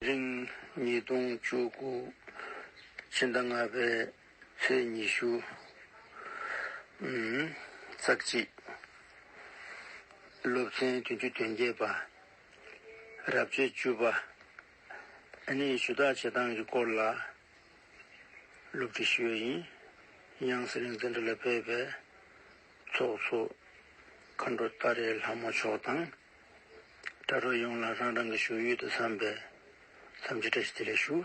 རིང་ཉིས་སྟོང་བཅུ་དགུ་ཕྱི་ཟླ་ལྔ་པའི་ཚེས་ཉི་ཤུ། ཙག་གཅིག། སློབ་ཚན་བདུན་ཅུ་དོན་བརྒྱད་པ། རབ་བྱེད་བཅུ་པ། ནི་ཞུ་དག་བྱེད་སྟངས་ཀྱི་སྐོར་ལ་སློབ་ཁྲིད་ཞུ་བ་ཡིན། དབྱངས་གསལ་རིག་འཛིན་གྲྭ་ལ་ཕེབས་པའི་ཚོགས་གཙོ་མཁའ་འགྲོ་ཏཱ་རེ་ལྷ་མོ་མཆོག་དང། དྲ་གྲོགས་ཡོངས་ལ་རང་རང་གི་བཞུགས་ཡུལ་དུ་འཚམས་པའི་འཚམས་འདྲི་བཀྲ་ཤིས་བདེ་ལེགས་ཞུ།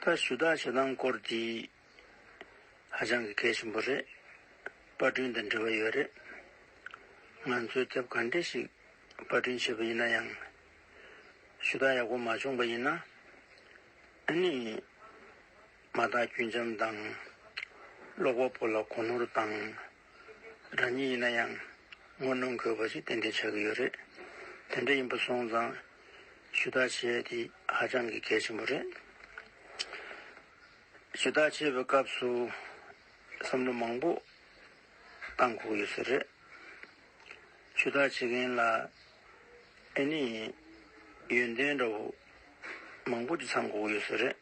ད་ཞུ་དག་བྱེད་སྟངས་སྐོར་འདི་ཧ་ཅང་གི་གལ་ཆེན་པོ་རེད། དཔར་སྐྲུན་དང་འབྲེལ་བ་ཡོད་རེད། ང་ཚོས་དེབ་ག་འདྲེ་ཞིག་དཔར་སྐྲུན་བྱས་པ་ཡིན་ན་ཡང། ཞུ་དག་ཡག་པོ་མ་བྱུང་པ་ཡིན་ན། ཨ་ནི། མ་དག་རྒྱུན་འབྱམས་དང། ཀློག་པ་པོ་ལ་གོ་ནོར་དང། རང་ཉིད་ཡིན་ན་ཡང་ངོ་གནོང་དགོས་པ་ཞིག་ཏན་ཏན་ཆགས་ཀྱི་ཡོད་རེད། དེ་འདྲ་ཡིན་པ་སོང་ཙང་ཞུ་དག་བྱེད་ཡ་དེ་ཧ་ཅང་གི་གལ་ཆེན་པོ་རེད། ཞུ་དག་བྱེད་པའི་སྐབས་སུ་བསམ་བློ་མང་པོ་གཏང་དགོས་ཡོད་ས་རེད། ཞུ་དག་བྱེད་མཁན་ལ་ཨེ་ནི་ཡོན་ཏན་འདྲ་བོ་མང་པོ་ཅིག་ཚང་དགོས་ཀྱི་ཡོད་ས་རེད།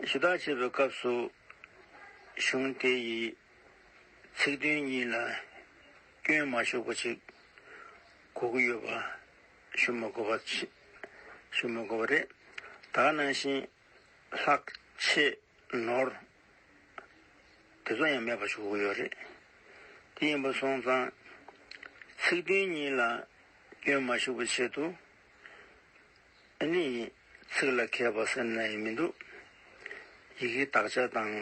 ཞུ་དག་བྱེད་པའི་སྐབས་སུ། གཞུང་དེ་ཡི་ཚིག་དོན་གཉིས་ལ་སྐྱོན་མ་ཞུགས་པ་ཞིག་གོ་གི་ཡོད་པ་ཞུ་མི་དགོས་པ་ཞུ་མི་དགོས་པ་རེད། ད་ནང་བཞིན་ལྷག་ཆད་ནོར་དེ་ཚོ་ཡང་མེད་པ་ཞུ་གི་ཡོད་རེད། དེ་ཡིན་པ་སོང་ཙང་ཚིག་དོན་གཉིས་ལ་སྐྱོན་མ་ཞུགས་པའི་ཆེད་དུ། ནི། ཚིག་ལ་མཁས་པ་སེམས་ན་ཡང་མི་འདུག། ཡི་གེའི་དག་ཆ་དང།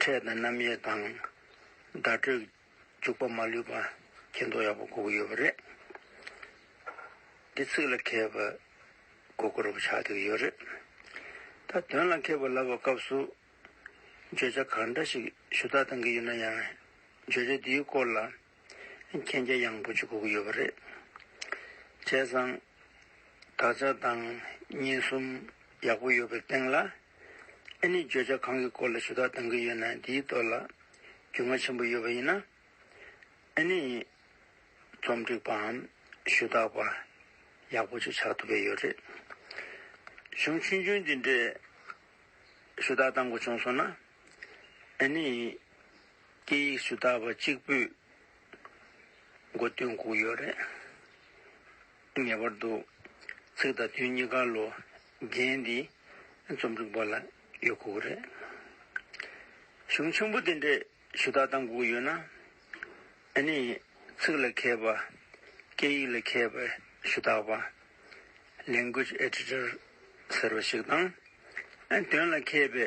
ཕྲད་དང་རྣམ་དབྱེ་དང། བརྡ་སྤྲོད། འཇུག་པ་མ་ལུས་པ། མཁྱེན་རྟོགས་ཡག་པོ་གོ་གི་ཡོད་པ་རེད། འདི་ཚིག་ལ་མཁས་པའི། གོ་བསྐོར་བ་ཆགས་ཐུག་གི་ཡོད་རེད། ད་དོན་ལ་མཁས་པ་ལབ་པའི་སྐབས་སུ། བརྗོད་བྱ་གང་འདྲ་ཞིག་ཞུ་དག་གཏང་གི་ཡོད་ན་ཡང། བརྗོད་བྱ་དེའི་སྐོར་ལ། མཁྱེན་རྒྱ་ཡངས་པོ་ཅིག་བསྒུགས་ཡོད་པ་རེད། བྱས་ཙང། དགག་བྱ་དང་བརྙན་གསུམ་ཡག་པོ་ཡོད་པའི་སྟེང་ལ། ཨེ་ནི་བརྗོད་བྱ་གང་གི་སྐོར་ལ་ཞུ་དག་གཏང་གི་ཡོད་ན་དེའི་ཐོག་ལ་རྒྱུས་མངའ་ཆེན་པོ་ཡོད་པ་ཡིན་ན། ཨེ་ནི། རྩོམ་སྒྲིག་པའམ་ཞུ་དག་པ་ཡག་པོ་ཅིག་ཆགས་ཐུབ་པས་ཡོད་རེད། གཞུང་ཆུང་ཆུང་འདི་འདྲས་ཞུ་དག་གཏང་དགོས་བྱུང་སོང་ན། ཨེ་ནི། སྐད་ཡིག་སུ་དག་པ་གཅིག་པུས་མགོ་བཏོན་བསྒུགས་ཡོད་རེད། ངེས་པར་དུ་ཚིག་དང་དོན་གཉིས་ཀ་ལོ་རྒྱན་འདིས་རྩོམ་སྒྲིག་པ་ལ་ཡོད་ཁུག་རེད། གཞུང་ཆེན་པོ་དེ་འདྲས་ཞུ་དག་བཏང་བསྒུགས་ཡོད་ན། ཨ་ནི་ཚིག་ལ་མཁས་པ། སྐད་ཡིག་ལ་མཁས་པའི་ཞུ་དག་པ། Language Editor། ཟེར་བ་ཞིག་དང། དོན་ལ་མཁས་པའི་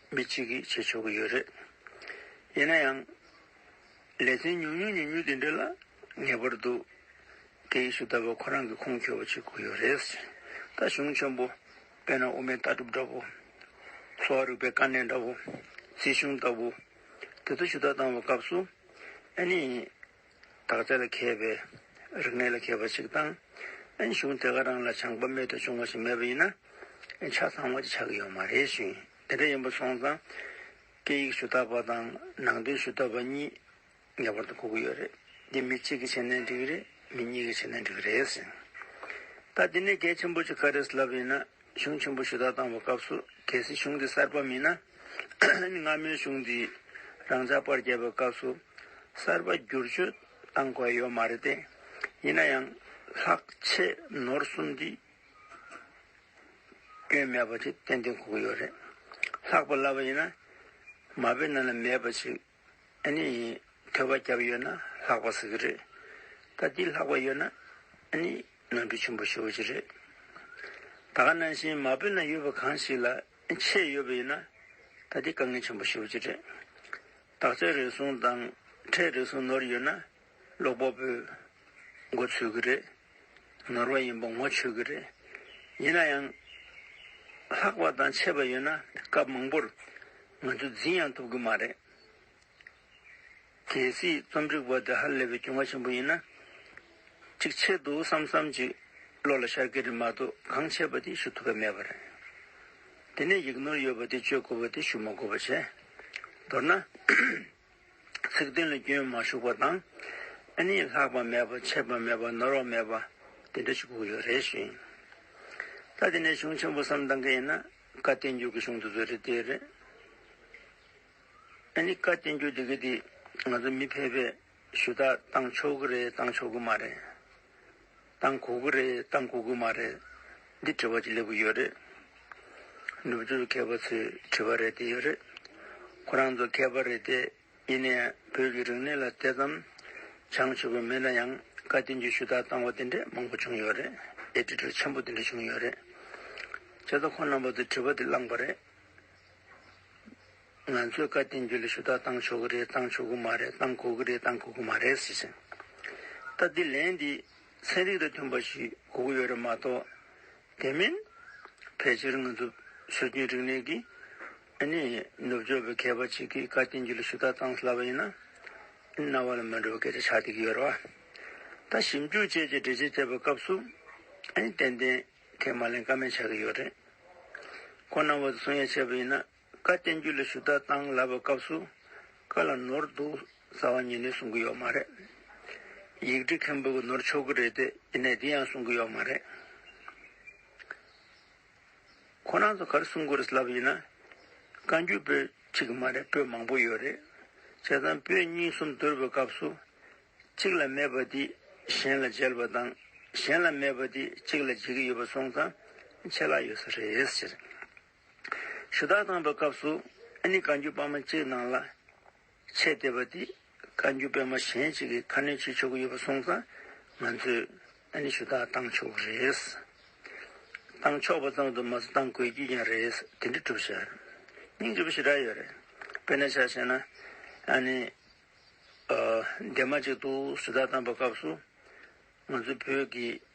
མི་གཅིག་གིས་བྱེད་ཆོག་གི་ཡོད་རེད། ཡིན་ན་ཡང། ལས་ཚན་ཉུང་ཉུང་ཉུང་ཉུང་དེ་འདྲ་ལ་ངེས་པར་དུ། དེ་ཡི་སུ་ད་པ་ཁོ་རང་གི་ཁུངས་འཁྱོལ་བ་བྱེད་དགོས་ཡོད་རེད། ད་གཞུང་ཆེན་པོ། དཔེར་ན་དབུ་མའི་ལྟ་གྲུབ་འདྲ་བོ། གསོ་བ་རིག་པའི་དཀའ་གནད་འདྲ་བོ། སྲིད་གཞུང་ལྟ་བུ། དེ་ཚོ་ཞུ་དག་བཏང་བའི་སྐབས་སུ། ཨ་ནི། དག་རྩལ་ལ་མཁས་པའི་རིག་གནས་ལ་མཁས་པ་ཞིག་དང། གཞུང་དེ་ག་རང་ལ་བྱང་པ་རྨད་དུ་བྱུང་བ་ཞིག་མེད་པ་ཡིན་ན། ཆ་ཚང་བ་ཅིག་ཆགས་ཀྱི་ཡོད་མ་རེད་ཞུ། དེ་འདྲ་ཡིན་པ་སོང་ཙང། སྐད་ཡིག་ཞུ་དག་པ་དང་ནང་དོན་ཞུ་དག་པ་གཉིས་ངེས་པར་དུ་གོ་གི་ཡོད་རེད། འདི་མི་གཅིག་གིས་བྱས་ན་འགྲིག་གི་རེད་མི་གཉིས་ཀྱིས་བྱས་ན་འགྲིག་གི་རེད་ཟེར། ད་འདི་ནས་གལ་ཆེན་པོ་ཅིག་ག་རེ་ལབ་ཡིན་ན། གཞུང་ཆེན་པོ་ཞུ་དག་བཏང་བའི་སྐབས་སུ་གལ་སྲིད་གཞུང་དེ་གསར་པ་མིན་ན། སྔ་མོའི་གཞུང་དེ་རང་འཇགས་པར་བྱས་པའི་སྐབས་སུ་གསར་པ་བསྒྱུར་བཅོས་བཏང་དགོས་ཡོད་མ་རེད་དེ། ཡིན་ན་ཡང་ལྷག་ཆད་ནོར་གསུམ་འདི་སྐྱོན་མེད་པ་ཞིག་ཏན་ཏན་གོ་གི་ཡོད་རེད། ལྷག་པར་སླ་བ་ཡིན་ན་མ་དཔེ་རྣམས་ལ་མེད་པ་ཞིག་ཨ་ནི། ཐོད་པ་བརྒྱབ་ཡོད་ན་ལྷག་པ་ཟེར་གྱི་རེད། ད་འདི་ལྷག་པ་ཡོད་ན། ཨ་ནི། ནོར་འཁྲུལ་ཆེན་པོ་ཞུ་གི་རེད། ད་ག་ནང་བཞིན་མ་བོད་ན་ཡོད་པ་གང་ཞིག་ལ་ཆད་ཡོད་པ་ཡིན་ན། ད་འདི་དཀའ་ངལ་ཆེན་པོ་ཞུ་གི་རེད། དག་ཆ་རེ་ཟུང་དང་ཁྲལ་རེ་ཟུང་ནོར་ཡོད་ན། ཀློག་པ་པོས་མགོ་ཚོས་ཀྱི་རེད། ནོར་བ་ཡིན་པ་ངོ་ཆོད་ཀྱི་རེད། ཡིན་ན་ཡང། ལྷག་པ་དང་ཆད་པ་ཡོད་ན་སྐབས་མང་པོར་ང་ཚོས་འཛིན་ཡང་ཐུབ་ཀྱི་མ་རེད། གལ་སྲིད་རྩོམ་སྒྲིག་པ་དེ་ཧ་ལས་པའི་གྱོང་བ་ཆེན་པོ་ཡིན་ན། ཅིག་ཆེད་དུ་བསམ་བསམ་ཅིག་བློ་ལ་ཤར་ཀྱི་རེད་མ་གཏོགས་གང་བྱས་པ་དེ་ཞུ་ཐུབ་པ་མེད་པ་རེད། དེ་ནས་ཡིག་ནོར་ཡོད་པ་དེ་བཅོས་དགོས་པ་དེ་ཞུ་མ་དགོས་པ་བྱས། མདོར་ན། ཚིག་དོན་ལ་སྐྱོན་མ་ཞུགས་པ་དང། ཨ་ནི་ལྷག་པ་མེད་པ་ཆད་པ་མེད་པ་ནོར་བ་མེད་པ་དེ་འདྲ་ཞིག་གོ་ཡོད་རེད་བཞིན། ད་དེ་འདྲའི་གཞུང་ཆེན་པོ་བསམ་གཏང་གི་ཡིན་ན་བཀའ་བསྟན་འགྱུར་གྱི་གཞུང་དེ་ཚོ་རེད་དེ་རེད། ཨ་ནི་བཀའ་བསྟན་འགྱུར་འདི་གི་འདི་ང་ཚོ་མི་ཕལ་པས་ཞུ་དག་གཏང་ཆོག་གི་རེད་གཏང་ཆོག་གི་མ་རེད། གཏང་གོ་གི་རེད་གཏང་གོ་གི་མ་རེད། འདི་དྲི་བ་ཅིག་སླེབས་ཀྱི་ཡོད་རེད། ནུབ་ཕྱོགས་མཁས་པ་ཚོས་དྲི་བ་རེད་དེ་ཡོད་རེད། ཁོ་རང་ཚོ་མཁས་པ་རེད་དེ་ཡིན་ནའི་བོད་ཀྱི་རིག་གནས་ལ་དེ་ཙམ་བྱང་ཆུབ་པའི་མི་ལ་ཡང་བཀའ་བསྟན་རྒྱུད་ཞུ་དག་བཏང་བ་དེ་འདྲས་མང་པོ་བྱུང་ཡོད་རེད་དེ་དྲི་བྲོ་ཆེན་པོ་དེ་འདྲས་བྱུང་ཡོད་རེད། བྱས་ཙང་ཁོ་རྣམ་པ་ཚོས་དྲི་བ་དེ་བླངས་པ་རེད། ང་ཚོས་བཀའ་བསྟན་རྒྱུད་ལ་ཞུ་དག་བཏང་ཆོག་གི་རེད་བཏང་ཆོག་གི་མ་རེད་བཏང་དགོས་ཀྱི་རེད་བཏང་དགོས་ཀྱི་མ་རེད་ཟེར་ཞིང། ད་ལྟའི་ལན་འདི་ཚན་རིག་དང་མཐུན་པ་ཞིག་གོ་གི་ཡོད་རེད་མ་གཏོགས། དེ་མིན། ཕལ་ཆེར་ང་ཚོ་སྲོལ་རྒྱུན་རིག་གནས་ཀྱི། ཨ་ནི། ནུབ་ཕྱོགས་པའི་མཁས་པ་ཅིག་གིས་བཀའ་བསྟན་རྒྱུད་ལ་ཞུ་དག་བཏང་སླ་བ་ཡིན་ན། ཨ་ནི་རྣ་བ་ལ་མི་འགྲོ་བའི་སྐད་ཆ་ཆགས་སྡད་ཀྱི་ཡོད་རེད་བ། ད་ཞིབ་འཇུག་བཅས་ཀྱི་འགྲེལ་བྱེད་བྱེད་པའི་སྐབས་སུ། ཨ་ནི་ཏན་ཏན་ཁས་མ་ལེན་ཀ་མེད་ཆགས་ཀྱི་ཡོད་རེད། ཁོང་རྣམ་བ་དང་གསུང་ཡ་བྱས་པ་ཡིན་ན། བཀའ་བསྟན་རྒྱུད་ལ་ཞུ་དག་དང་ལབ་པའི་སྐབས་སུ་བཀའ་ལ་ནོར་འདུག་ཟ་བ་ཉིད་ནས་གསུང་གི་ཡོད་མ་རེད། ཡིག་འབྲི་མཁན་པོ་གི་ནོར་ཆོག་གི་རེད་དེ་ཡིན་ནའི་དེ་ཡང་གསུང་གི་ཡོད་མ་རེད། ཁོ་རང་ཚོ་གར་གསུང་གི་རེད་ལབ་ཡིན་ན་བཀའ་འགྱུར་པོད་གཅིག་གི་མ་རེད་པོད་མང་པོ་ཡོད་རེད། བྱས་ཙང་པོད་གཉིས་གསུམ་བསྡུར་བའི་སྐབས་སུ་གཅིག་ལ་མེད་པ་དེ་གཞན་ལ་འཇལ་བ་དང་གཞན་ལ་མེད་པ་དེ་གཅིག་ལ་འཇལ་གི་ཡོད་པ་སོང་ཙང་ཆད་ལ་ཡོད་ས་རེད། ཞུ་དག་བཏང་བའི་སྐབས་སུ་ནི་བཀའ་འགྱུར་པདྨ་གཅིག་སྣང་ལ་ཆས་བལྟས་པ་འདི་བཀའ་འགྱུར་པདྨ་གཞན་གཅིག་གིས་ཁ་སྣོན་བྱེད་ཆོག་གི་ཡོད་པ་སོང་ཙང་ང་ཚོས་ནི་ཞུ་དག་བཏང་ཆོག་གི་རེད། བཏང་ཆོག་པ་ཙམ་དུ་མ་ཟད་བཏང་དགོས་ཀྱི་ཀྱང་རེད་དེ་འདྲའི་སྒྲུབ་བྱེད་སྙིང་རྗེ་བོ་ཞེ་དྲག་ཡོད་རེད། དཔེར་ན་ཆ་བྱས་ན། ནི། འདས་མ་གཅིག་ཏུ་ཞུ་དག་བཏང་བའི་སྐབས་སུ་ང་ཚོའི་བོད་ཀྱི།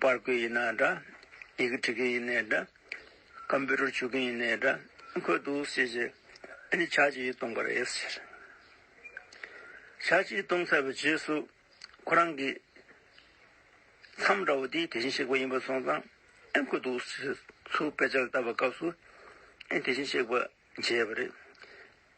པར་བརྐོས་ཡིན་ན་འདྲ། ཡི་གེ་འབྲི་མཁན་ཡིན་ནའི་འདྲ། Computer བྱུག་མཁན་ཡིན་ནའི་འདྲ། འཁོད་འདུག་ཟེར་གྱི། ཨ་ནི་ཆ་གཅིག་གཏོང་གི་རེད་ཟེར། ཆ་གཅིག་གཏོང་ཚར་བའི་རྗེས་སུ། ཁོ་རང་གིས། མཚམས་འདྲ་བོ་དེ་དེ་བཞིན་གཤེགས་པ་ཡིན་པ་སོང་ཙང། ཨེ་འཁོད་འདུག་ཟེར་གྱི། ཚུར་དཔེ་ཆ་ལ་བལྟ་བའི་སྐབས་སུ། ཨེ་དེ་བཞིན་གཤེགས་པ་མཇལ་བ་རེད།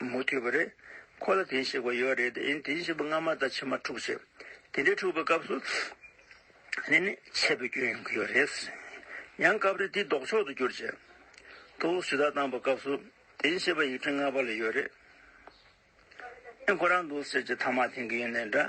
མུ་མཐུད་པ་རེད། ཁོ་ལ་དེ་ཤེས་པ་ཡོད་རེད་དེ་དེ་ཤེས་པ་སྔ་མ་དང་ཕྱི་མ་འཁྲུག་ཆེ། དེ་འདྲའི་འཁྲུག་པའི་སྐབས་སུ། ནས་ནས་ཆད་པའི་སྐྱོན་ཡོང་གི་ཡོད་རེད། ཡང་སྐབས་རེ་དེ་ལྡོག་ཕྱོགས་དུ་གྱུར་ཆེ། ཐུགས་ཞུ་དག་བཏང་པ་སྐབས་སུ། དེ་ཤེས་པ་ཡིག་འཕྲིན་སྔ་བ་ལ་ཡོད་རེད། ཨེ་ཁོ་རང་འདུག་ཟེར་གྱི་ཐ་མག་འཐེན་གི་ཡོད་ནས་འདྲ།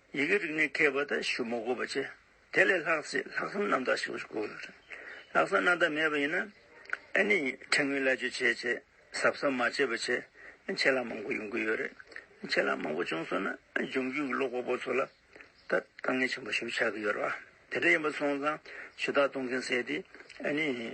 ཡི་གེ་རིག་ནས་མཁས་པ་དང་གཞུ་མོ་གོ་བ་ཆེ། དེ་ལས་ལྷག་ཚེ་ལྷག་བསམ་རྣམ་དག་ཞིག་དགོས་རེད། ལྷག་བསམ་རྣམ་དག་མེད་པ་ཡིན་ན། ཨ་ནི་ཕྲན་ངོས་སླད་བརྗོད་བྱས་བྱས། ཟབ་ཟབ་མ་བྱས་པ་བྱས། ཆད་ལྷག་མང་པོ་ཡོང་གི་ཡོད་རེད། ཆད་ལྷག་མང་པོ་བྱུང་སོང་ན་འབྱུང་འགྱུར་གྱི་ཀློག་པ་པོ་ཚོ་ལ། ད་དཀའ་ངལ་ཆེན་པོ་ཞིག་ཆགས་ཀྱི་ཡོད་རེད། དེ་འདྲ་ཡིན་པ་སོང་ཙང་ཞུ་དག་གཏོང་མཁན་བསད་དེ། ཨ་ནི།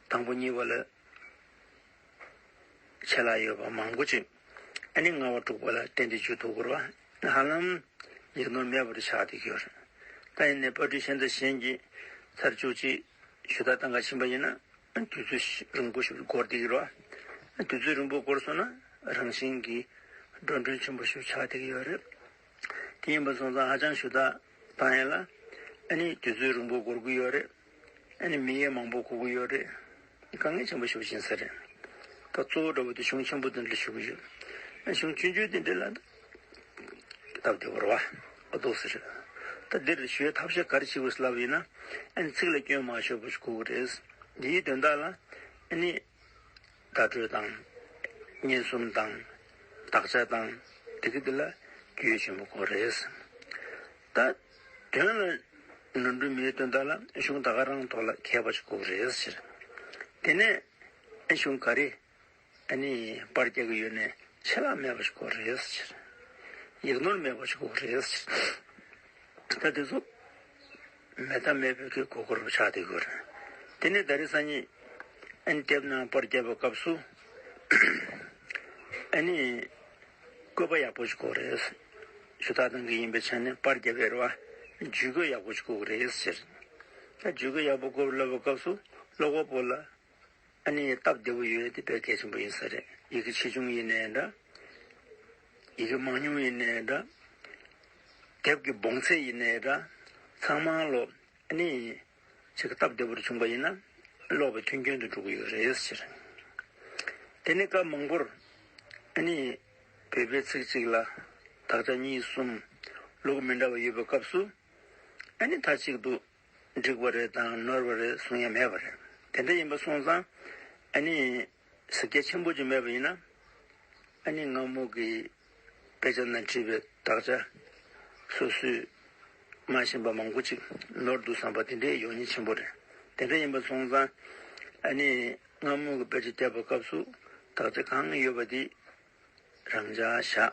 དང་པོ་གཉིས་པ་ལ་ཆད་ལྷག་ཡོད་པ་མང་པོ་བཅུ། ཨ་ནི་ལྔ་བ་དྲུག་པ་ལ་སྟན་ཏེ་བཅུ་དུ་འཁོར་བ་ཧ་ལམ་ཡིག་ནོར་མེད་པར་ཆགས་ཏེ་གྱུར། ད་ཡིན་ནས་པར་སྐྲུན་ཤན་ཚ་གཞན་གྱི་ཚར་བཅུ་གཅིག་ཞུ་དག་གཏང་ག་ཕྱིན་པ་ཡིན་ན་དུས་ཚོད་རིང་པོ་ཞིག་འགོར་ཏེ་གྱུར་བ། དུས་ཚོད་རིང་པོ་འགོར་སོང་ན་རང་བཞིན་གྱིས་འགྲོ་མགྲོན་ཆེན་པོ་ཞིག་ཆགས་ཏེ་གྱུར། དེ་ཡིན་པ་སོང་ཙང་ཧ་ཅང་ཞུ་དག་གཏང་ཡས་ལ་ཨ་ནི་དུས་ཚོད་རིང་པོ་འགོར་གྱི་ཡོད་རེད། ཨ་ནི་མི་ཡས་མང་པོ་གོ་གི་ཡོད་རེད། དཀའ་ངལ་ཆེན་པོ་ཞུགས་ཕྱིན་ས་རེད། ད་གཙོ་བོ་དགྲ་བོ་དེ་གཞུང་ཆེན་པོ་དེ་འདྲ་ཞུགས་ཡོད། ཨ་གཞུང་བཅུ་འཇུག་དེ་འདྲ་ལ། སྟབས་བདེ་བོར་བ། ཨ་འདུག་ས་རེད། ད་འདིར་བཞུགས་ཐབས་ཤེས་ག་རེ་བྱེད་དགོས་ས་ལབ་ཡོད་ན། ཨ་ནི་ཚིག་ལ་སྐྱོན་མ་ཤོར་བ་ཞིག་གོ་གི་རེད། འདིའི་དོན་དག་ལ། ཨ་ནི། དགའ་བྲོད་དང། སྙན་གསུམ་དང། དག་ཆ་དང། དེ་ཀ་དེ་ལ་རྒྱུད་ཆེན་པོ་གོ་རེས། ད། དོན་ལ། འགྲོ་འདྲུད་མེའི་དོན་དག་ལ་གཞུང་དག་ག་རང་ཐོག་ལ་མཁས་པ་ཞིག་གོ་རེས་ཕྱིར། དེ་ནས། གཞུང་ག་རེ། ཨ་ནི། པར་རྒྱག་གི་ཡོད་ནས་ཆད་ལྷག་མེད་པ་ཞིག་གོ་རེས་ཕྱིར། ཡིག་ནོར་མེད་པ་ཞིག་གོ་རེས་ཕྱིར། ད་དེ་ཚོ། མེ་ཐ་མའི་བུ་གའི་གོ་བསྐོར་བ་ཆགས་ཏེ་གོ། དེ་ནས་ད་རི་ས་ཉིད། ཨན་ཏེབ་ནང་པར་བསྐྱལ་བའི་སྐབས་སུ། ཨན་ནི། བཀོད་པ་ཡག་པོ་ཞིག་གོ་རེད། ཞུ་དག་གཏང་གི་ཡིན་པའི་ཆ་ནས་པར་བསྐྱལ་བའི་རེ་བ། ཇུས་འགོད་ཡག་པོ་ཞིག་གོ་རེད་ཟེར། ད་ཇུས་འགོད་ཡག་པོ་བསྐོར་བ་སློབ་པའི་སྐབས་སུ་ཀློག་པ་པོ་ལ་ཨ་ནི་སྟབས་བདེ་པོ་ཡོད་དེ་དཔེ་གལ་ཆེན་པོ་ཡིན་ས་རེད་ཡི་གེ་ཆེ་ཆུང་ཡིན་ནའི་འདྲ། ཡི་གེ་མང་ཉུང་ཡིན་ནའི་འདྲ། དེབ་ཀྱི་སྦོང་ཚད་ཡིན་ནའི་འདྲ། ཚང་མ་ཀློག་ཨ་ནི། ཆེ་གེ་སྟབས་བདེ་པོར་བྱུང་པ་ཡིན་ན། ཀློག་པའི་མཐུན་རྐྱེན་དུ་འགྲོ་གི་ཡོད་རེད་ཟེར། དེ་ནི་སྐབས་མང་པོར། ཨ་ནི། བོད་པའི་ཚིག་གཅིག་ལ། དག་ཆ་གཉིས་གསུམ། ལུགས་མི་འདྲ་བ་ཡོད་པའི་སྐབས་སུ། ཨ་ནི་ད་ཅིག་འདུག། འགྲིག་པ་རེད་དང་ནོར་བ་རེད་གསུང་ཡ་མེད་པ་རེད། དེ་འདྲ་ཡིན་པ་སོང་ཙང་ཨ་ནི་ཟིག་རྒྱ་ཆེན་པོ་ཅིག་མེད་པ་ཡིན་ན། ཨ་ནི་ངག་མོག་གིས་དཔེ་ཆ་ན་བྲིས་པའི་དག་ཆ་སོ་སོས་སྨྲ་བཞིན་པ་མང་པོ་ཅིག་ནོར་འདུག་བསམ་པ་དེ་འདྲའི་ཡོག་ཉེས་ཆེན་པོ་རེད། དེ་འདྲ་ཡིན་པ་སོང་ཙང་ཨ་ནི་ངག་མོག་གིས་དཔེ་ཆ་བརྒྱབ་པའི་སྐབས་སུ་དག་ཆ་གང་ཡོད་པ་དེ་རང་འཇགས་བཞག།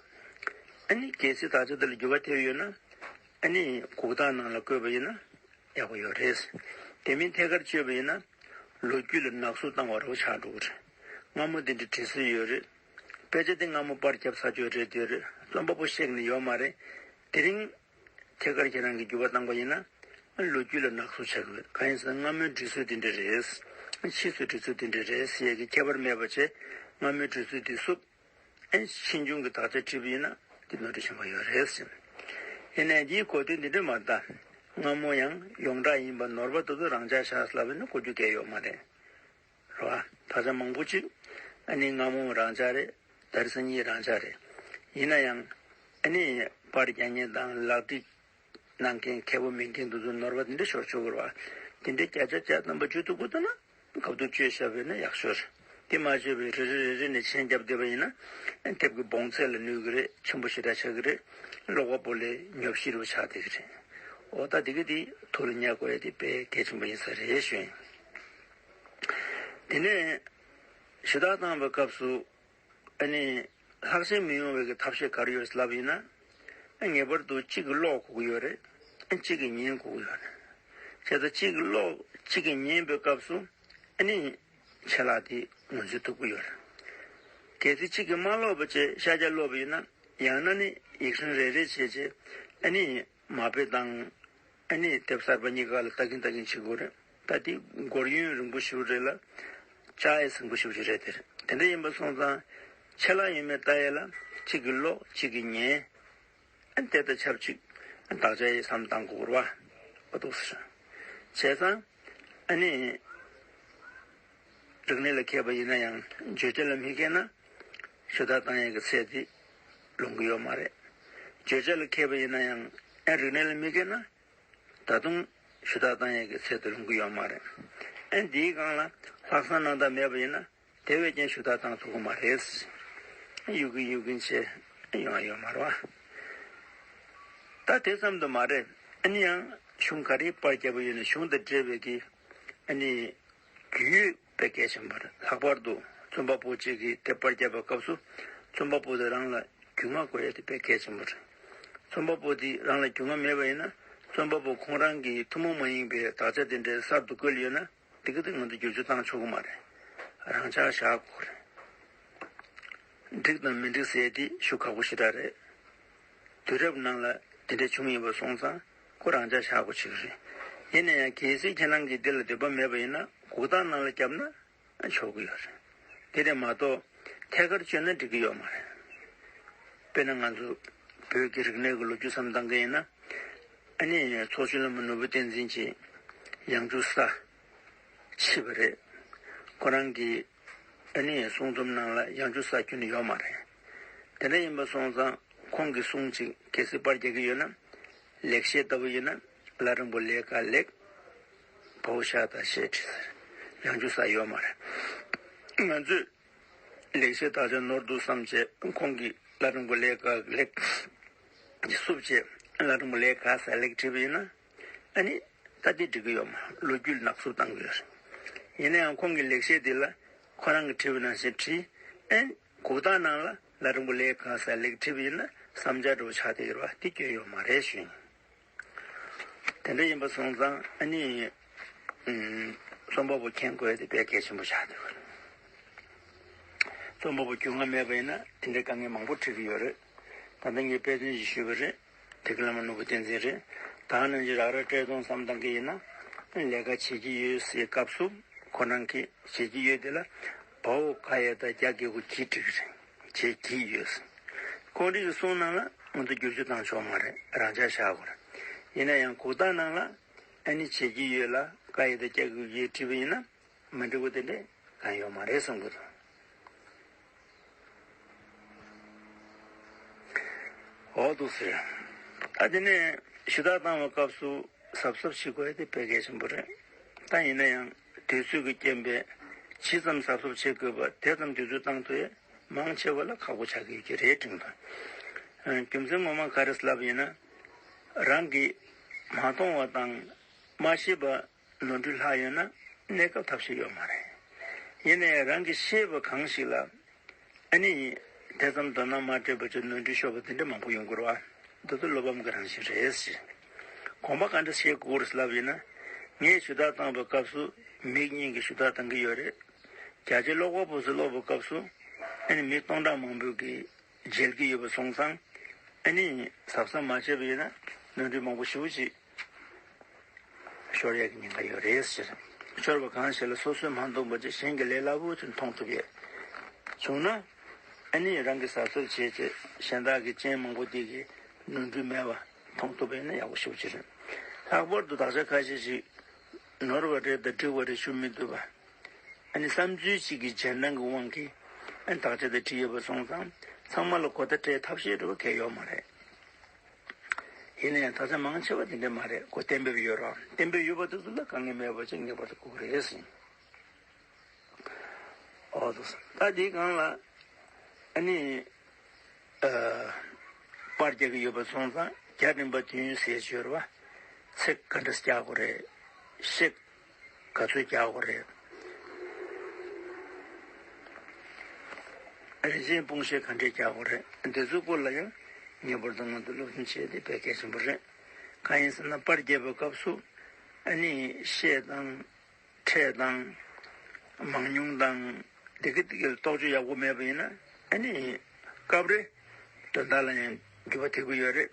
ཨ་ནི་གལ་སྲིད་ད་ཆ་འདི་ལ་འགྱུར་བ་ཐེབས་ཡོད་ན། ཨ་ནི་གུག་རྟགས་ནང་ལ་བཀོད་པ་ཡིན་ན་ཡག་པོ་ཡོད་རེད། དེ་མིན་ཐད་ཀར་བཅོས་པ་ཡིན་ན། ལོ་རྒྱུས་ལ་ནག་གསུབ་བཏང་བ་རོགས་ཆགས་འགྲོ་གི་རེད། སྔ་མོ་འདི་འདྲའི་དྲི་སོས་ཡོད་རེད། དཔེ་ཆ་འདི་སྔ་མོ་པར་ཁྱབ་ས་ཆོད་རེད་དེར་རྩོམ་པ་པོ་གཤེགས་ནི་ཡོད་མ་རེད། དེ་རིང། ཐད་ཀར་ཁྱེད་རང་གིས་འགྱུར་བ་བཏང་པ་ཡིན་ན། ལོ་རྒྱུས་ལ་ནག་བསུབ་བྱ་དགོས། གང་ཡིན་ཟེར་ན་སྔ་མོའི་འབྲི་སྲོལ་འདི་འདྲ་རེད། ཕྱིས་སུ་འབྲི་ཚུལ་འདི་འདྲ་རེད་ཟེར་ཡས་ཀྱི་ཁྱད་པར་མེད་པ་ཆེ། སྔ་མོའི་འབྲི་ཚུལ་འདི་བསུབ། ཕྱིས་འབྱུང་གི་དག་ཆ་བྲིས་པ་ཡིན་ན། འདི་ནོར་འཁྲུལ་ཆེན་པོ་ཡོད་རེད། ཡིན་ནས་འདིའི་གོ་དོན་འདི་འདྲ་མ་གདའ། སྔ་མོ་ཡང་ཡོངས་གྲགས་ཡིན་པ་ནོར་བ་དེ་ཚོ་རང་འཇགས་བཞག་ཟླ་བས་ན་གོ་རྒྱུ་འགལ་ཡོད་མ་རེད། རོ། ད་ཆ་མང་པོ་གཅིག། ཨ་ནེ་སྔ་མོ་རང་ཅག་རེད། དར་སྲིན་གཉིས་རང་ཅག་རེད། ཡིན་ན་ཡང། ཨ་ནེ། པར་རྒྱག་མཁན་དང་ལག་བྲིས། གནང་མཁན་མཁས་པོ་མིན་མཁན་དུ་ནོར་བ་དེ་འདྲ་ཤོར་ཆོག་གི་རོ། དེ་འདྲའི་བརྒྱ་ཆ་བརྒྱ་རྣམ་པ་བརྗོད་ཐུབ་དགོས་ཐུབ་ན། གབ་ཏུ་བཅོས་བྱ་བས་ན་ཡག་ཤོས་རེད། དེ་མ་བརྗོད་པའི་རེ་རེ་རེ་རེ་ནས་མཆན་བརྒྱབ་བསྡད་པ་ཡིན་ན། དེབ་ཀྱི་བོངས་ཚད་ལ་གནོད་གི་རེད་མཆན་བུ་ཞེ་དྲག་ཆགས་གི་རེད། ཀློག་པ་པོ་ལས་ཉོབ་ཤི་རུ་ཆགས་བསྡད་གི་རེད། འོ་ད་དེ་ག་དེ་ཐུགས་ལ་ཉར་དགོས་ཡ་དེ་དཔེ་གལ་ཆེན་པོ་ཡིན་ས་རེད་བཞིན། དེ་ནས་གཞི་བདག་བཏང་བའི་སྐབས་སུ། ཨ་ནི། ལྷག་བསམ་མི་ཡོང་བའི་གི་ཐབས་ཤེས་ག་རེ་ཡོད་རེད་ལབ་ཡིན་ན། ངེས་པར་དུ་གཅིག་གི་ཀློག་གོ་གི་ཡོད་རེད། གཅིག་གི་ཉན་གོ་གི་ཡོད་རེད། བྱས་ཙང་གཅིག་གི་ཀློག་གཅིག་གི་ཉན་པའི་སྐབས་སུ། ཨ་ནི། ཆད་ལྷག་དེ་ངོས་འཛིན་ཐུབ་གི་ཡོད་རེད། གལ་སྲིད་གཅིག་གིས་མ་ཀློག་པ་བཅས་ཤ་རྒྱགས་ཀློག་པ་ཡིན་ན། ཡང་ན་ནི་ཡིག་ཧྲིང་རེ་རེ་བྱས་རྗེས་ཨ་ནི། མ་དཔེ་བཏང། ཨ་ནེའི་དེབ་གསར་པ་གཉིས་ཀ་ལ་ལྟ་གིན་ལྟ་གིན་འཆི་འགོ་རེད། ད་དེ་སྒོར་ཡུན་རིང་པོ་ཞུ་རེད་ལ། ལྕགས་ཡས་ཟིང་པོ་ཞུ་རྒྱུ་རེད་དེར་དེ་འདྲ་ཡིན་པ་སོང་ཙང། ཆད་ལྷག་ཡོད་མེད་ལྟ་ཡས་ལ་གཅིག་གིས་ཀློག་གཅིག་གིས་ཉན། ཨ་དེ་ད་ཆབ་གཅིག་བདག་ཅག་ཡས་བསམ་བཏང་གོ་ར་བ་འདུག་ཟེར། བྱས་ཙང་ཨ་ནེ། རིག་གནས་ལ་མཁས་པ་ཡིན་ན་ཡང་བརྗོད་བྱ་ལ་མི་མཁས་ན། ཞུ་དག་བཏང་ཡག་གི་ཚད་དེ་ལོང་གི་ཡོད་མ་རེད། བརྗོད་བྱ་ལ་མཁས་པ་ཡིན་ན་ཡང་རིག་གནས་ལ་མི་མཁས་ན། ད་དུང་ཞུ་དག་བཏང་ཡག་གི་ཚད་དེ་ལོང་གི་ཡོད་མ་རེད། འདིའི་སྒང་ལ་ལྷག་བསམ་རྣམ་དག་མེད་པ་ཡིན་ན་དེ་བས་ཀྱང་ཞུ་དག་བཏང་ཐུབ་གི་མ་རེད། གཡུག་གིན་གཡུག་གིན་ཆེ་ཡོང་བ་ཡོད་མ་རེད། ད་དེ་ཙམ་དུ་མ་རེད། གཞུང་ག་རེའི་པར་རྒྱབ་པ་ཡོད་ནས་གཞུང་དང་འབྲེལ་བའི་གི་རྒྱུས་ཡོད་པའི་སྐད་ཆེན་པོ་རེད་ལྷག་པར་དུ་རྩོམ་པ་པོ་གཅིག་གིས་དེབ་དཔར་བརྒྱབ་པའི་སྐབས་སུ་རྩོམ་པ་པོ་དེ་རང་ལ་རྒྱུས་མངའ་དགོས་ཡོད་པའི་སྐད་ཆེན་པོ་རེད། རྩོམ་པ་པོ་དེ་རང་ལ་རྒྱུས་མངའ་མེད་པ་ཡིན་ན་རྩོམ་པ་པོ་ཁོང་རང་གིས་ཐུན་མོང་མ་ཡིན་པའི་དག་ཆ་དེ་འདྲའི་གསར་དུ་བཀོལ་ཡོད་ན་འདི་ག་དེ་ང་ཚོ་བསྒྱུར་བཅོས་བཏང་ཆོག་གི་མ་རེད། རང་འཆར་བཞག་དགོས་རེད། འགྲིག་དང་མི་འགྲིག་ཟེར་དེ་ཞུ་ཁག་པོ་ཞེ་དྲག་རེད། དུས་རབས་ནང་ལ་དེ་འདྲ་བྱུང་ཡོད་པ་སོང་ཙང་ཁོ་རང་ཅག་ཤག་གོ་ཆེ་གི་རེད། ཡིན་ན་ཡང་གལ་སྲིད་ཁྱེད་རང་གིས་འདི་ལ་འདོད་པ་མེད་པ་ཡིན་ན་གུག་རྟགས་ནང་ལ་བརྒྱབ་ན་ཆོག་གི་ཡོད་རེད། དེ་ལས་མ་གཏོགས་ཐད་ཀར་བཅོས་ན་འགྲིག་གི་ཡོད་མ་རེད། དཔེར་ན་ང་ཚོ་བོད་ཀྱི་རིག་གནས་ཀྱི་ལོ་རྒྱུས་སམ་གཏང་གི་ཡིན་ན། ཨ་ནེ་ཚོགས་ཆུང་ལ་མོ་ནོར་བུ་བསྟན་འཛིན་གྱིས་ཡང་འཇུག་ས་མཆིས་པ་རེད། ཁོ་རང་གིས། དེ་ནས་གསུང་རྩོམ་ནང་ལ་ཡང་ཅུང་ཟད་སྐྱོན་ཡོད་མ་རེད། དེ་འདྲ་ཡིན་པ་སོང་ཙང་ཁོང་གིས་གསུང་ཅིག་གལ་སྲིད་པར་རྒྱག་གི་ཡོད་ན། ལེགས་བཤད་ལྟ་བུ་ཡིན་ན་ལ་རིང་པོ་ལས་དཀའ་ལེགས། བོའུ་ཤ་ད་ཤེས་བྲིས་ཟེར་ཡང་ཅུང་ཟད་ཡོད་མ་རེད། ང་ཚོས་ལེགས་བཤད་དག་ཆ་ནོར་འདུག་བསམ་བྱས་ཁོང་གིས་ལ་རིང་པོ་ལས་དཀའ་ལེགས། སུབ་བྱས་ལ་རིང་པོ་ལས་དཀའ་ཟས་ལེགས་བྲིས་པ་ཡིན་ན། ཨ་ནི། ད་འདི་འབྲི་གི་ཡོད་མ་ལོ་རྒྱུས་ནག་བསུབ་བཏང་གི་ཡོད་རེད། ཡིན་ན་ཡང་ཁོང་གི་ལེགས་བཤད་འདི་ལ་ཁོ་རང་གི་དྲིས་པ་ནང་བཞིན་བྲིས། ཨེ། གུག་རྟགས་ནང་ལ་ལ་རིང་པོ་ལེགས་གང་ཟེར་ལེགས་བྲིས་པ་ཡིན་ན་བསམ་འཆར་འགྲོ་བ་ཆགས་ཏེ་ཡོད་པ་འདི་སྐྱོན་ཡོད་མ་རེད་བཞིན། དེ་འདྲ་ཡིན་པ་སོང་ཙང་ཨ་ནི། རྩོམ་པ་པོ་མཁྱེན་དགོས་དེ་དཔེ་གལ་ཆེན་པོ་ཆགས་ཏེ་ཡོད་རེད། རྩོམ་པ་པོ་རྒྱུས་མངའ་མེད་པ་ཡིན་ན་དེ་འདྲའི་དཀའ་ངལ་མང་པོ་འཕྲད་ཀྱི་ཡོད་རེད། ད་ལྟ་ངས་དཔེ་སྟོན་ཞིག་ཞུས་པ་རེད། དེ་གི་བླ་མ་ནོར་བུ་བསྟན་འཛིན་རེད། ད་ནང་ཅི་རག་ར་སྤྲད་སྟོང་བསམ་བཏང་གི་ཡིན་ན། ལས་ཀ་བྱེད་ཀྱི་ཡོད་སའི་སྐབས་སུ་ཁོ་རང་གི་བྱེད་ཀྱི་ཡོད་དེ་ལ་བ་འོ་ཁ་ཡ་ད་རྒྱ་གི་གུ་གྱིས་བྲིས་རེད་བྱེད་ཀྱི་ཡོད་སའི་ཁོང་རིག་གི་གསུང་གནང་ལ་ང་ཚོ་བསྒྱུར་བཅོས་བཏང་ཆོག་མ་རེད་རང་འཇགས་བཞག་གོ་རེད་ཡིན་ན་ཡང་གུ་བཏང་གནང་ལ་ཨ་ནི་བྱེད་ཀྱི་ཡོད་ལ་ཁ་ཡ་ད་རྒྱ་གི་གུ་གྱིས་བྲིས་པ་ཡིན་ན་མ་འགྲིག་གོ་དེ་འདྲས་གང་ཡོད་མ་རེད་བསམ་གི་འདུག། འོག་ཏུ་ཟེར། ད་འདི་ནས་ཞུ་དག་བཏང་བའི་སྐབས་སུ་གཟབ་གཟབ་བྱེད་དགོས་དེ་དཔེ་གལ་ཆེན་པོ་རེད། ད་ཡིན་ན་ཡང་དུས་ཚོད་ཀྱི་རྐྱེན་པས་ཇི་ཙམ་གཟབ་གཟབ་བྱེད་དགོས་པ་དེ་ཙམ་དུས་ཚོད་བཏང་དུས་མང་ཆེ་བ་ལ་ཁག་པོ་ཆགས་ཀྱི་ཡོད་ཀྱི་རེད་སྤྲིངས་པ། རྒྱུ་མཚན་ངོ་མ་ག་རེ་ལབ་ཡིན་ན་རང་གིས་མ་མཐོང་བ་དང་མ་ཤེས་པ། ནོར་འཁྲུལ་ལྷག་ཡོད་ན་གནས་སྐབས་ཐབས་ཤེས་ཡོད་མ་རེད། ཡིན་ནའི་རང་གི་ཤེས་པ་གང་ཞིག་ལ་ཨ་ནི་དེ་ཙམ་དོ་སྣང་མ་སྤྲད་པ་ཅི་ནོར་འཁྲུལ་ཤོར་བ་དེ་འདྲ་མང་པོ་ཡོང་དགོས་ར་འདི་ཚོ་བློ་ཕམ་གི་རང་བཞིན་རེད་ཟེར། གོང་པ་ག་འདྲ་བཤད་དགོས་རེད་ལབ་ཡིན་ན་ངས་ཞུ་དག་བཏང་བའི་སྐབས་སུ་མིག་གཉིས་ཀྱིས་ཞུ་དག་བཏང་གི་ཡོད་རེད། རྒྱ་ཆེ་ཀློག་པ་པོ་ཚོས་ཀློག་པའི་སྐབས་སུ་ཨ་ནི་མི་སྟོང་ཕྲག་མང་པོས་ཀྱིས་མཇལ་གྱི་ཡོད་པ་སོང་ཙང་ཨ་ནེ་ཡིས་ཟབ་ཟབ་མ་བྱས་པ་ཡིན་ན་ནོར་འཁྲུལ་མང་པོ་ཞིག་ཅིག་ཤོར་ཡག་གི་ཉེན་ཁ་ཡོད་རེད་ཟེར། ཤོར་བ་གང་ཞིག་ལ་སོ་སོས་མ་མཐོང་པ་ཅིག་གཞན་གྱིས་ལས་སླ་བོ་ཅིག་མཐོང་ཐུབ་ཡོད། བྱུང་ན་ཨ་ནེ་ཡིས་རང་གིས་ཟབ་ཟབ་བྱས་རྗེས་གཞན་དག་གིས་སྤྱན་མང་པོ་འདེགས་ཀྱིས་ནོར་འཁྲུལ་མེད་པ་མཐོང་ཐུབ་པ་ཡིན་ན་ཡག་པོ་ཞུ་རྒྱུ་རེད། ལྷག་པར་དུ་དག་ཆ་ཁ་ཤས་ཤིག་ནོར་བ་རེད་དང་འགྲིག་བ་རེད་ཞུ་མི་འདོད་པ་བསམ་ཚུལ་གཅིག་གིས་རྗེས་འབྲང་གི་དབང་གིས་དག་ཆ་དེ་བྲིས་ཡོད་པར་སོང་ཙང་ཚང་མ་ལ་གོ་བརྡ་སྤྲད་ཐབས་ཤེས་འགྲོ་བ་གལ་ཡོད་མ་རེད། ཡིན་ན་ཡང་དག་ཆ་མང་ཆེ་བ་དེ་འདྲས་མ་རེད་གོ་གཏན་འབེབས་ཡོད་རོགས་གཏན་འབེབས་ཡོད་པ་དེ་ཚོ་ལ་དཀའ་ངལ་མེད་པ་ཅིག་ངེས་པར་དུ་ཁུག་རེད་སེམས། ཨོ་ཏོ། ད་དེའི་སྒང་ལ་ཨཱ་པར་རྒྱག་གི་ཡོད་པར་སོང་ཙང་རྒྱ་རིམ་པ་དུས་ཡུན་ཟས་སྤྱོད་ར་བ་ཚེ་ག་འདྲ་སྐྱག་གོ་རེད་གཤེགས། ག་ཚོད་རྒྱག་དགོས་རེད། རིན་ཆེན་སྤུངས་ཤེལ་ག་འདྲས་རྒྱག་དགོས་རེད་འདི་ཚོའི་སྐོར་ལ་ཡང་ངེས་པར་དུ་སྔོན་དུ་སློབ་སྦྱོང་བྱས་ཏེ་བས་གལ་ཆེན་པོ་རེད། གང་ཡིན་ཟེར་ན་དཔར་རྒྱས་པའི་སྐབས་སུ་ཨ་ནི་ཤེས་དང། ཕྲད་དང། མང་ཉུང་དང། དེ་གི་ཏིག་གི་རྟོག་དཔྱོད་ཡག་པོ་མེད་པ་ཡིན་ན་ཨ་ནི་སྐབས་རེ་དོན་དག་ལ་ཡང། འགྱུར་བ་ཐེབས་ཀྱི་ཡོད་རེད།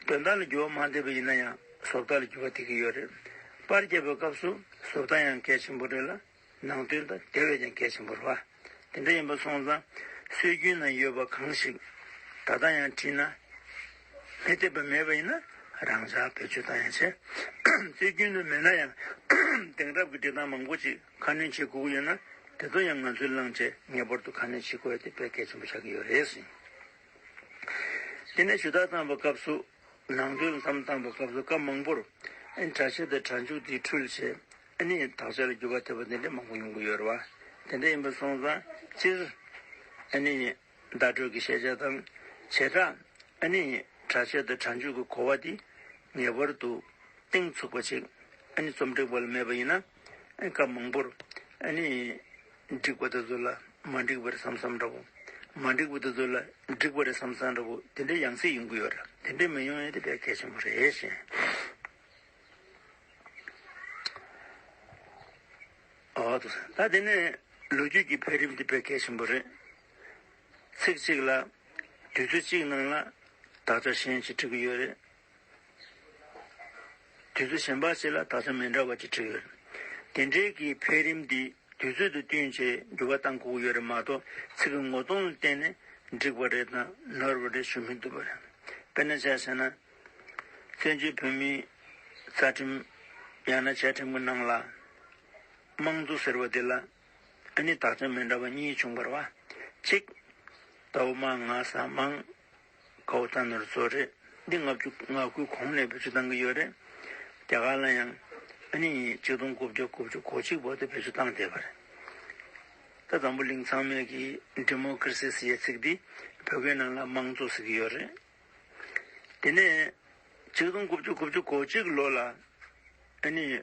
དོན་དག་ལ་འགྱུར་བ་མ་འདེབས་པ་ཡིན་ན་ཡང་བཟོ་ལྟ་ལ་འགྱུར་བ་ཐེབས་ཀྱི་ཡོད་རེད། པར་རྒྱག་པའི་སྐབས་སུ་བཟོ་ལྟ་ཡང་གལ་ཆེན་པོ་རེད་ལ། ནང་དོན་དང་དེ་བས་ཀྱང་གལ་ཆེན་པོ་རེད་བ། དེ་འདྲ་ཡིན་པ་སོང་ཙང་སྲོལ་རྒྱུན་ནང་ཡོད་པ་གང་ཞིག་ད་ལྟ་ཡང་བྲིས་ན། མི་འཐད་པ་མེད་པ་ཡིན་ན་རང་ཅག་བེད་སྤྱོད་གཏང་ཡ་ཆེ། སྲོལ་རྒྱུན་དུ་མེད་ན་ཡང་དེང་རབས་ཀྱི་འབྲི་སྟངས་མང་པོ་ཅིག་ཁ་སྣོན་བྱེད་དགོས་ཀྱི་ཡོད་ན་དེ་ཚོ་ཡང་ང་ཚོས་བླངས་རྗེས་ངེས་པར་དུ་ཁ་སྣོན་བྱེད་དགོས་ཡོད་དེ་བས་གལ་ཆེན་པོ་ཆགས་ཀྱི་ཡོད་རེད། དེ་ནས་ཞུ་དག་བཏང་བའི་སྐབས་སུ། ནང་དོན་ཙམ་བཏང་བའི་སྐབས་སུ་སྐབས་མང་པོར། དྲ་ཕྱེད་དེ་དྲ་མཇུག་དེའི་འཕྲུལ་ཆས། ནི་དག་ཆ་ལ་བསྒྱུར་བ་ཐེབས་པ་དེ་འདྲའི་མང་པོ་ཡོང་གི་ཡོད་རེད་བ། དེ་འདྲ་ཡིན་པ་སོང་ཙང་སྤྱིར། ནི་བརྡ་སྤྲོད་ཀྱི་ཤེས་བྱ་དང། བྱེ་བྲག། ནི་དྲ་ཕྱེད་དེ་དྲ་མཇུག་གི་གོ་བ་དེ། ངེས་པར་དུ། སྟེང་ཚུགས་པ་ཅིག། ནི་རྩོམ་སྒྲིག་པ་ལ་མེད་པ་ཡིན་ན། སྐབས་མང་པོར། འགྲིག་པ་དེ་ཚོ་ལ་མ་འགྲིག་པ་རེད་བསམ་བསམ་འདྲ་པོ། མ་འགྲིག་པ་དེ་ཚོ་ལ་འགྲིག་པ་རེད་བསམ་བསམ་འདྲ་པོ་དེ་འདྲའི་ཡང་སྲིད་ཡོང་གི་ཡོད་རེད། དེ་འདྲའི་མི་ཡོང་ཡོད་དེ་དཔེ་གལ་ཆེན་པོ་རེད་བཞིན། འོ་ཐུགས་ས། ད་དེ་ནས་ལོ་རྒྱུས་ཀྱི་འཕེལ་རིམ་དེ་དཔེ་གལ་ཆེན་པོ་རེད། ཚིག་གཅིག་ལ། དུས་ཚོད་གཅིག་ནང་ལ། དག་ཆ་གཞན་གཅིག་འཁྲིད་གི་ཡོད་རེད། དུས་ཚོད་གཞན་པ་ཞིག་ལ་ད་ཆ་མི་འདྲ་བ་ཅིག་བྲིས་ཡོད། དེ་འབྲེལ་གྱི་འཕེལ་རིམ་འདི་དུས་ཚོད་དུ་བསྟུན་ཆེད་འགྱུར་བ་བཏང་ཁུག་ཡོད་རེད་མ་གཏོགས་ཚིག་གི་ངོ་གདོང་ལ་བརྟེན་ནས་འགྲིག་པ་རེད་དང་ནོར་བ་རེད་ཞུ་མི་ཐུབ་པ་རེད། དཔེར་ན་བྱས་ཟེར་ན། བཙན་བྱོལ་བོད་མིའི་རྩ་ཁྲིམས་ཡང་ན་བཅའ་ཁྲིམས་ཀྱི་ནང་ལ། དམངས་གཙོ་ཟེར་བ་འདི་ལ་ཨ་ནི་དག་ཆ་མི་འདྲ་བ་གཉིས་བྱུང་བར་བ། གཅིག། ད་འོ་མ་ང་ས་དམངས། ཁ་བོ་ད་ནོར་བཟོ་རེད་འདི་ལྔ་བཅུ་ང་དགུའི་གོང་ནས་བེད་སྤྱོད་བཏང་གི་ཡོད་རེད། རྒྱ་གར་ལ་ཡང་ཨ་ནི་ཉིས་གཅིག་སྟོང་དགུ་བརྒྱ་དགུ་བཅུ་གོ་གཅིག་བར་དུ་བེད་སྤྱོད་བཏང་བསྡད་པ་རེད། ད་འཛམ་བུ་གླིང་ཚང་མས་ཀྱི་འདི་མོ་ཀིར་སི་ཟེར་ཡས་ཚིག་འདི་བོད་སྐད་ནང་ལ་དམངས་གཙོ་ཟེར་གི་ཡོད་རེད། དེ་ནས་ཉིས་གཅིག་སྟོང་དགུ་བཅུ་དགུ་བཅུ་གོ་གཅིག་ལོ་ལ་ཨ་ནི།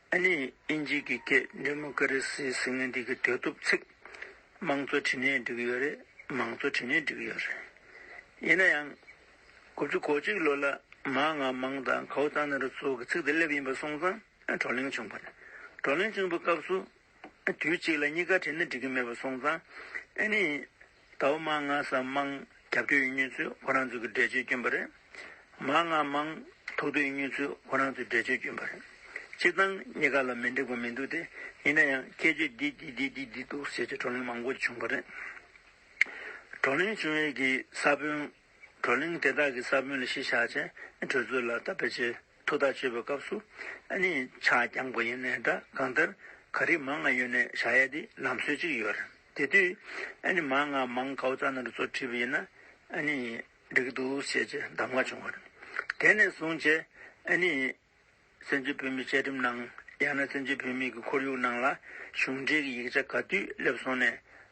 ཨ་ནེ་ཨིན་ཇིས་ཀྱི་སྐད་འདི་མོ་ཀ་རི་སི་ཟིང་ངེ་འདི་གི་དོད་དུབ་ཚིག། དམངས་གཙོ་དྲི་ནས་འགྲིག་ཡོད་རེད་མང་གཙོ་དྲི་ནས་འགྲིག་ཡོད་རེད། ཡིན་ན་ཡང། དགུ་བཅུ་གོ་གཅིག་ལོ་ལ་མ་ང་མང་དང་གའུ་རྩ་ནེ་རོ་ཚོ་གི་ཚིག་དེ་སླེབས་ཡིན་པ་སོང་ཙང་བགྲོ་གླེང་བྱུང་པ་རེད། བགྲོ་གླེང་བྱུང་པའི་སྐབས་སུ། དུས་གཅིག་ལ་གཉིས་ཀ་དྲི་ནས་འགྲིག་གི་མེད་པ་སོང་ཙང། ཨ་ནེ། ད་བོ་མང་ང་སམ་མང་རྒྱབ་སྐྱོ་ཡི་མྱོས་ཚོད་བོ་རང་ཚོད་ཀྱི་འདྲེ་ཆོས་སྐྱོན་པ་རེད། མང་ང་མང་ཐུག་དོ་ཡི་མྱོས་ཚོད་བོ་རང་ཚོད་འདྲེ་ཆོས་སྐྱོན་པ་རེད། སྤྱིར་བཏང་གཉིས་ཀ་ལ་མི་འགྲིག་པ་མི་འདུག་སྟེ་ཡིན་ན་ཡང་སྐད་ཆོས་འདི་འདི་འདི་འདི་འདི་འདུག་ཟེར་གྱི་བགྲོ་གླེང་མང་པོ་བྱུང་པ་རེད། བགྲོ་གླེང་བྱུང་ཡས་ཀྱི་ས་བོན། བགྲོ་གླེང་དེ་དག་གི་ས་བོན་ལ་གཞི་བཞག་ཆེད་གྲོས་ཚོད་ལ་བལྟ་བེ་ཆེ། ཐུགས་ཐག་ཆོད་པའི་སྐབས་སུ། ནི། ཕྱག་བརྐྱང་མགོ་ཡི་ནད་དྲག་གང་ལྟར། ག་རེ་མང་ང་ཡོད་ནས་བྱ་ཡ་དེ་ལམ་སྲོལ་གཅིག་ཡོད་རེད། དེ་དུས། ནི། མང་ང་མང་གའུ་རྩ་ནར་གཙོ་ཁྲིད་པ་ཡིན་ན། ནི། འགྲིག་འདུག་བཤད་ཀྱི་གདམ་ང་བྱུང་བ་རེད། དེ་ནས་བཟུང་བྱས། ནི། བཙན་བྱོལ་བོད་མིའི་བཅའ་ཁྲིམས་ནང། ཡང་ན་བཙན་བྱོལ་བོད་མིའི་གི་ཁོར་ཡུག་ནང་ལ། གཞུང་འབྲེལ་གྱི་ཡིག་ཆ་ག་དུས་སླེབས་སོང་ནས།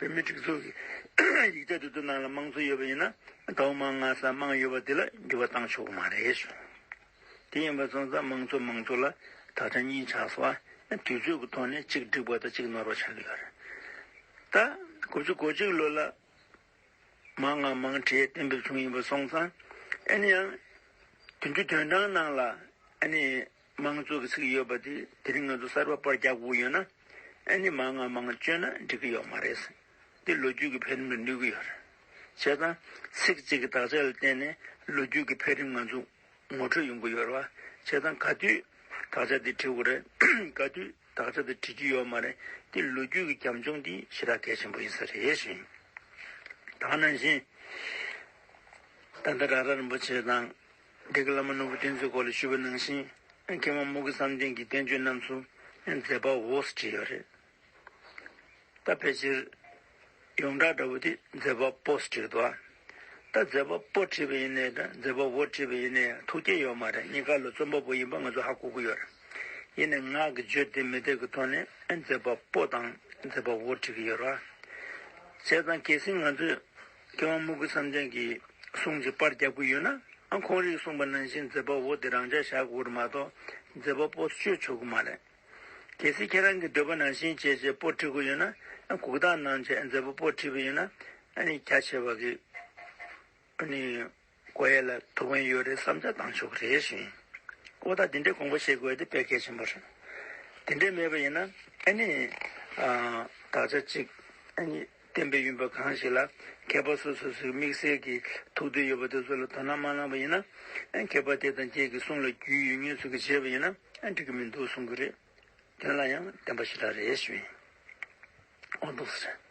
བོད་མི་སྒྲིག་འཛུགས་ཀྱི་ཡིག་ཆ་དེ་ཚོ་ནང་ལ་དམངས་གཙོ་ཡོད་པ་ཡིན་ན་ད་འོ་མ་ང་ས་དམངས་ཡོད་པ་དེ་ལ་འགྱུར་བ་བཏང་ཆོག་གི་མ་རེད་ཟེར། དེ་ཡིན་པ་སོང་ཙང་དམངས་གཙོ་མང་གཙོ་ལ་ད་ཆ་གཉིས་ཆགས་སོང་ཨ། དུས་ཚོད་ཀྱི་ཐོག་ནས་གཅིག་འགྲིག་པ་དང་གཅིག་ནོར་བ་ཆགས་ཀྱི་ཡོད་རེད། ད་དགུ་བཅུ་གོ་གཅིག་ལོ་ལ་མང་ང་མང་གྲས་གཏན་འབེབས་བྱུང་ཡིན་པ་སོང་ཙང་ཨ་ནི་ཡང་དེ་འདྲའི་དོན་དྲང་ནང་ལ་ཨ་ནི། དམངས་གཙོ་གི་ཚིག་ཡོད་པ་དེ་དེ་རིང་ང་ཚོ་གསར་པ་པར་རྒྱག་དགོས་ཡོད་ན་ཨེ་ནི་མང་ང་མང་བཅོས་ན་འགྲིག་གི་ཡོད་མ་རེད་ཟེར་འདི་ལོ་རྒྱུས་ཀྱི་འཕེལ་རིམ་ལ་ནུས་གི་ཡོད་རེད་བྱས་ཙང་ཚིག་གཅིག་གི་དག་ཆ་ལ་བརྟེན་ནས་ལོ་རྒྱུས་ཀྱི་འཕེལ་རིམ་ང་ཚོ་ངོ་འཕྲོད་ཡོང་གི་ཡོད་རེད་བ་བྱས་ཙང་ག་དུས་དག་ཆ་དེ་བྲི་དགོས་རེད་ག་དུས་དག་ཆ་དེ་བྲི་རྒྱུ་ཡོད་མ་རེད་འདི་ལོ་རྒྱུས་ཀྱི་གྱམ་ཆུང་དེ་ཞེ་དྲག་གལ་ཆེན་པོ་ཡིན་ས་རེད་བཞིན་དག་ན་བཞིན་ད་ལྟ་ར་ར་རིན་པོ་ཆེ་དང་སྡེ་དགེ་བླ་མ་ནོར་བུ་བསྟན་འཛིན་སྐོར་ལ་ཞུ་བ་གནང་ཞིང། མཁས་དབང་དམུ་དགེ་བསམ་གཏན་གྱི་བསྟན་བཅོས་རྣམས་སུ་མཛད་པ་འོག་སུ་བྲིས་ཡོད་རེད། ད་ཕལ་ཆེར་ཡོངས་གྲགས་འདྲ་བོ་དེ་མཛད་པ་པོ་སུ་བྲིས་འདུག་ད་མཛད་པ་པོ་བྲིས་པ་ཡིན་ནའི་མཛད་པ་བོ་བྲིས་པ་ཡིན་ནའི་ཐུགས་བསྐྱེད་ཡོད་མ་རེད་གཉིས་ཀ་ལ་རྩོམ་པ་པོ་ཡིན་པ་ང་ཚོ་ཧ་གོ་གི་ཡོད་རེད། ཡིན་ནའི་ངག་གི་བརྗོད་བདེ་མི་བདེ་གི་ཐོག་ནས་མཛད་པ་པོ་དང་མཛད་པ་བོ་བྲིས་ཀྱི་ཡོད་རེད། བྱས་ཙང་གལ་སྲིད་ང་ཚོས། སྐྱེ་བ་མུ་གུ་བསམ་གཏན་གྱི་གཟུངས་ཀྱི་པར་རྒྱབ་ཀྱི་ཡོད་ན་ཨང་ཁོང་རིགས་གསུངས་པ་ནང་བཞིན་མཛད་པ་བོ་དེ་རང་འཇགས་བཞག་དགོས་རེད་མ་གཏོགས་མཛད་པ་པོ་སྤྱོད་ཆོག་གི་མ་རེད། གལ་སྲིད་ཁྱེད་རང་གི་འདོད་པ་ནང་བཞིན་བྱས་རྗེས་པོ་ཁྲིད་དགོས་ཡོད་ན་གུག་རྟགས་གནང་རྗེས་མཛད་པ་པོ་ཁྲིད་པའི་ཡོད་ན་རྒྱ་ཆེ་བ་གིས་ཀོ་ཡེ་ལ་ཐུག་མཁན་ཡོད་རེད་བསམ་ཆ་གཏང་ཆོག་རེད་བཞིན། ཀོ་ད་དེ་འདྲའི་དགོངས་པ་བཞེས་དགོས་དེ་དཔེ་གལ་ཆེན་པོ་རེད། དེ་འདྲའི་མེད་པ་ཡིན་ན་ཨེ་ནི། དག་ཆ་གཅིག་ཨེ་ནི། བསྟན་པའི་ཡུམ་པ་གང་ཞིག་ལ་མཁས་པ་སོ་སོ་སོའི་དམིགས་བསལ་གྱི་ཐུགས་འདོད་ཡོད་པ་དེ་ཚོ་ལ་དོ་སྣང་མ་གནང་བ་ཡིན་ན། མཁས་པ་དེ་དང་ཁྱེད་ཀྱི་གསུང་ལ་རྒྱུས་ཡོད་ངེས་ཚུལ་གྱི་བྱས་པ་ཡིན་ན་འགྲིག་གི་མི་འདུག་གསུང་གི་རེད། དོན་ལ་ཡང་བདེན་པ་ཞིག་ལ་རེད་བཞིན། ཨོ་འདུག་ཟེར།